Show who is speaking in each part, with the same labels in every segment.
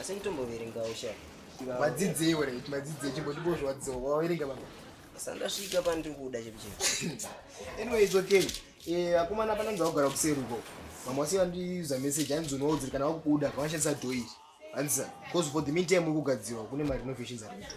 Speaker 1: asi nditomboverengawo sha vadzidzei
Speaker 2: were vadzidzei chimbotipo zvawadzidzei waverenga baba sandasvika
Speaker 1: pandikuda chekucheka anyway it's
Speaker 2: okay eh, akomana pananzi akugara kuseri uko mamwe wasi vandiuza message hanzi unoudziri kana wakubuda vanoshandisa dho iri hanzi bcause for the meantime ukugadzirwa kune marenovation zari kuto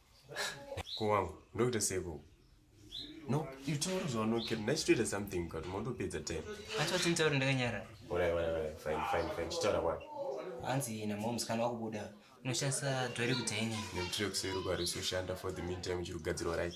Speaker 3: Ko wangu ndokuita seiko? No, you told us no kid. Nice to something but mondo pizza time. Acha tintaura ndakanyara.
Speaker 1: Ora ora ora fine
Speaker 3: fine fine. Chitaura kwa. Anzi na
Speaker 1: moms kana wakubuda. Unoshandisa dwari kuti ini. Ni mtire kuseru kwa
Speaker 3: resu shanda for the meantime chiri kugadzirwa right.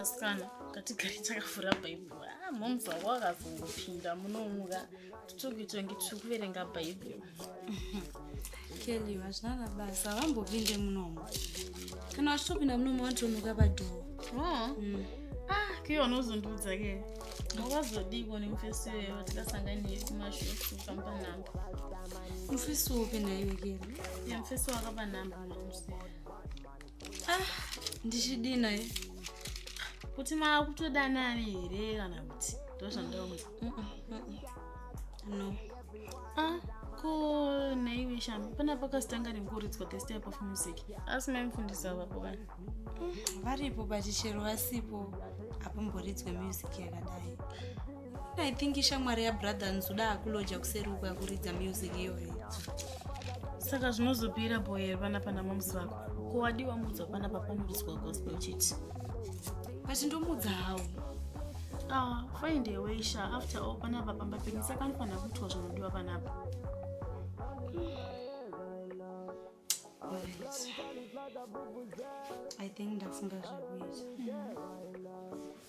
Speaker 4: asikana ngatigare takavhura bhaibheri a ah, moms wako wakazongopinda munomuka tutuki tongi tiri kuverenga bhaibheri
Speaker 5: kelly vachina na basa vambopinde munomu kana vachitopinda munomu vatomuka padhoo oh. mm.
Speaker 4: ah kiyo unozondiudza ke wakazodiko nemufesi weyo tikasanganiye kumashofu kamba namba mufesi
Speaker 5: wope naiwe kelly ya mufesi wakapa
Speaker 4: namba ah,
Speaker 5: ndichidii naye kuti
Speaker 4: maakutodanani here kana kuti ndozvandaona
Speaker 5: no ah, ko
Speaker 4: naiwe shami pana pakasitanga ringoridzwa this type of music asi maimufundisi avapo vani varipo
Speaker 5: but chero vasipo apo mboridzwe music yakadai I think ishamwari yabrother nzuda akuloja kuseri uko yakuridza music iyoyo
Speaker 4: saka zvinozopira boyer vana pana moms vako ko wadiwa mudzwa pana papamuriswa gospel chiti but
Speaker 5: ndomudza hawo ah,
Speaker 4: find a way sha after all panapa pamba penyu saka anofanira kuitwa zvinodiwa panapa
Speaker 5: i think ndafunga zvekuita mm.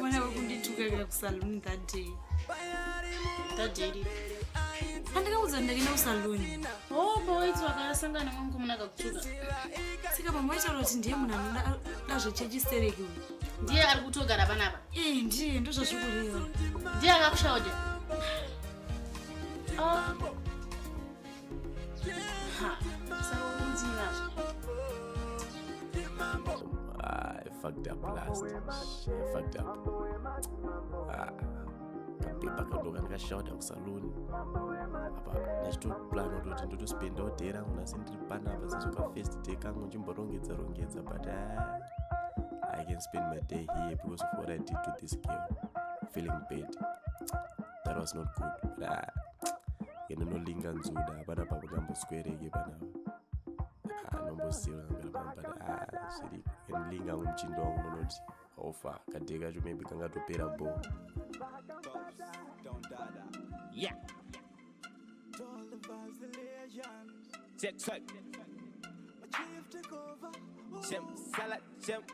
Speaker 5: Mwana wekunditukarira kusaluni that day.
Speaker 4: That day iri. Andikaudza
Speaker 5: ndakaenda kusaluni. Oh boy, it's
Speaker 4: wakasangana mwangu muna kakutuka. Saka pamwe
Speaker 5: waitaura kuti ndiye munhu anoda zvechechi stereki uyu. Ndiye ari kutogara
Speaker 4: panapa. Eh, ndiye
Speaker 5: ndozvazvikureva. Ndiye akakushaoda.
Speaker 4: Oh.
Speaker 3: I fucked up last. I fucked up. Ah. Kapepa kadoka ndikashauta kusaluni apa ndachitoplan utoti ndotospenda odhee rangu nasi ndiri panapa sezoka first day kangu ndimborongedza rongedza but ah, i can spend my day here because of what i did to this girl feeling bad that was not good but ah, yendinolinga nzuda hapana pavakamboswereke panavo anombosira but ah, zviri yendilinga hangu muchindo wangu ndonoti hofa kadhe kacho maybe kangatopera bo yeah. Check,
Speaker 6: check. Shem, salad, shem.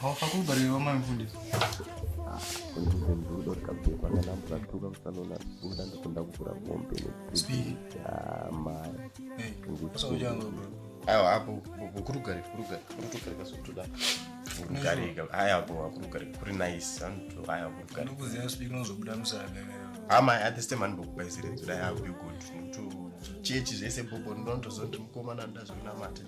Speaker 1: Hawafakubariwa
Speaker 2: mfundisi. Kunzvimbo ndudo rikabvekwa nana mvura tuka kusanona kuda ndikunda kuvhura mombe nekuamaya. Aiwa hapo
Speaker 3: kurugari kurugari kurutugari kasotuda kurugari haya hapo kurugari kuri nice antu haya kurugari. Ndikuziva speak unozobuda
Speaker 2: musaga. Ama at this
Speaker 3: time andokupa isiredzo dai akuyo good. Nekuti chechi zvese bobo ndonto zoti mukomana ndazvinamata.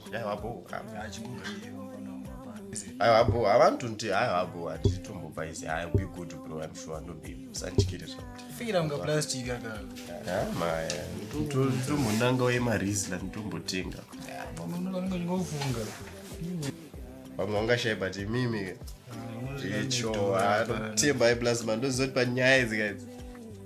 Speaker 3: aiwa bho havanhu tonti aiwa bho handiti tombobva izi ai be good bro im sure ndobe musandityire
Speaker 2: zvatombonanga
Speaker 3: wemarisla nditombotenga vamwe vangashai but imimi icho anotemba iplasma ndozoti panyaya idzi kaidzi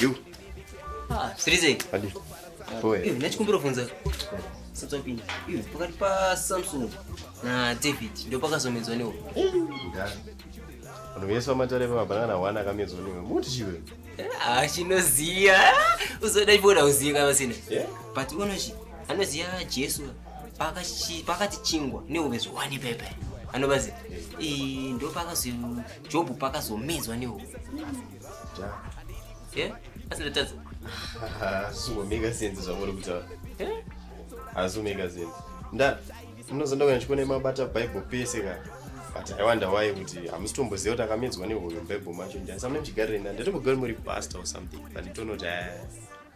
Speaker 3: You. Ah, Srize.
Speaker 1: Adi.
Speaker 3: Boy. Eh, nachikumbira funza.
Speaker 1: Satsopinda. Eh, pakati pa Samsung na David ndio pakazomedzwa newo. Vanhu
Speaker 3: vese vamatare pamabanana wana akamedzwa newe. Muti chiwe. Ah, chinoziya.
Speaker 1: Uzoda ipo na uziya kama sina. Yeah. But unoshi. Anoziya Jesu. pakati chingwa nehuvezvo wani pepe anobazi ndo pakazo jobhu pakazomedzwa nehuve asindatadza
Speaker 3: azvingomeka sense zvamuri kutaura hazvingomeka sense nda munozonda kuenda chikona imabata bible pese ka but i wonder why kuti hamusitomboziva kuti akamedzwa nehoyo bible macho ndiyani samune mchigarirei nda ndatombogauri muri pastor or something but itonoti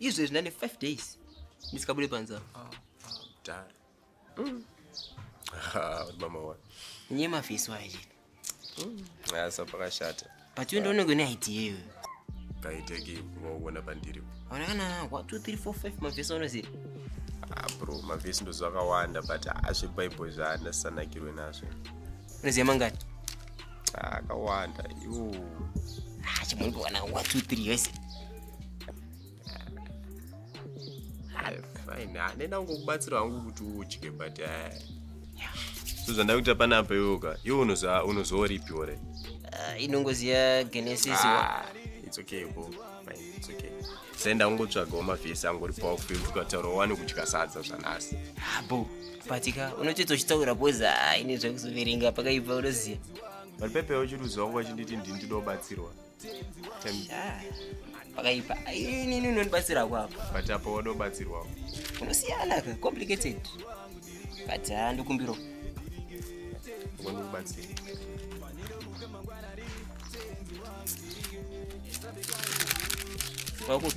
Speaker 3: izvezvi ndane
Speaker 1: five days ndisikabude panzava
Speaker 3: ah, ah, mm. ah, mama wa nye mafeso
Speaker 1: aya chete mm.
Speaker 3: asa pakashata but iwe ndioneko ne
Speaker 1: idea iyoyo kaiteki
Speaker 3: wauona pandiri aona kana one two
Speaker 1: three four five mafeso anoziva bro
Speaker 3: mavhesi ndo zvakawanda but azvebhaibheri zvaandasanakirwe nazvo unoziva mangati akawanda iwo chimwe
Speaker 1: ndikuwana one two three yese
Speaker 3: fine hanena ah, kungokubatsira hangu kuti udye but eh. so zvandakuita panapa iwoka iwo unozooripiwo re ah, inongoziva
Speaker 1: genesis ah, it's okay
Speaker 3: bo it's okay senda ungotsvagawo mavhesi angu uri pawo kufe kuti ukataura wani kudya sadza zvanhasi bo
Speaker 1: patika unotoita uchitaura bcoz ine zvakuzoverenga pakaibva unoziva but pepe
Speaker 3: uchiruziwa nguva chinditi ndindidobatsirwa
Speaker 1: pakaipa inini unondibatsira kwako but apa wadobatsirwawo
Speaker 3: unosiyana
Speaker 1: ka complicated but handikumbiro
Speaker 3: wandikubatsira
Speaker 1: kwakupi